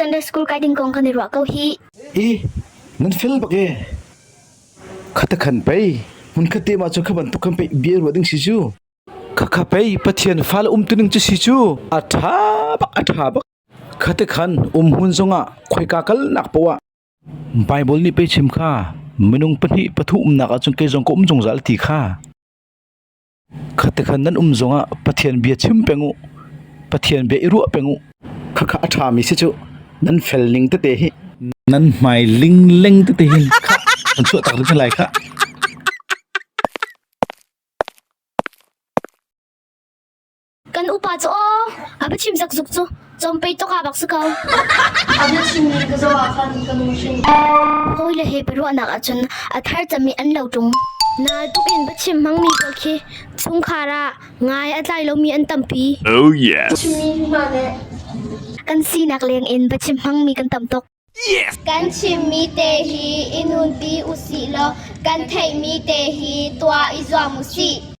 Sunday School kai ding kong kan i ruah ko hi. E, nan fel bak e. Khata khan pei, mun khatte ma chu khaban tuk khan pei bia ruwa ding si chu. Khakha pei pathian fal um tuning chu si chu. Atha bak atha bak. Khate khan um hun zonga khoika kal nak powa. Bible ni pe chim kha minung pahnih pathu umnak achung ke zong ko um zungzal ti kha. Khatikhan nan um zongah Pathian bia chim peng u. Pathian bia i ruah peng u. Khakha a ṭhami si cu nan fel ning tete hi nan hmai lingleng tete hin an chuah tak ding lai kha. Kan upa cu aw a va chim zakzuk cu cawmpei tok ah bak si ko. A bia chimmi ka zoh ah khan ka nu sin hawile he biaruahnak ahcun a thar cami an lo ṭung. Nal tuk in va chim hmangmi pawl khi chungkhar ah ngai a tlai lomi an tampi. Oh yes. Chimmi hna le kan sinak leng in va chim hmangmi kan tam tuk. Yes. Kan chimmi te hi i nunpi usih law kan theihmi te hi tuah i zuam usih.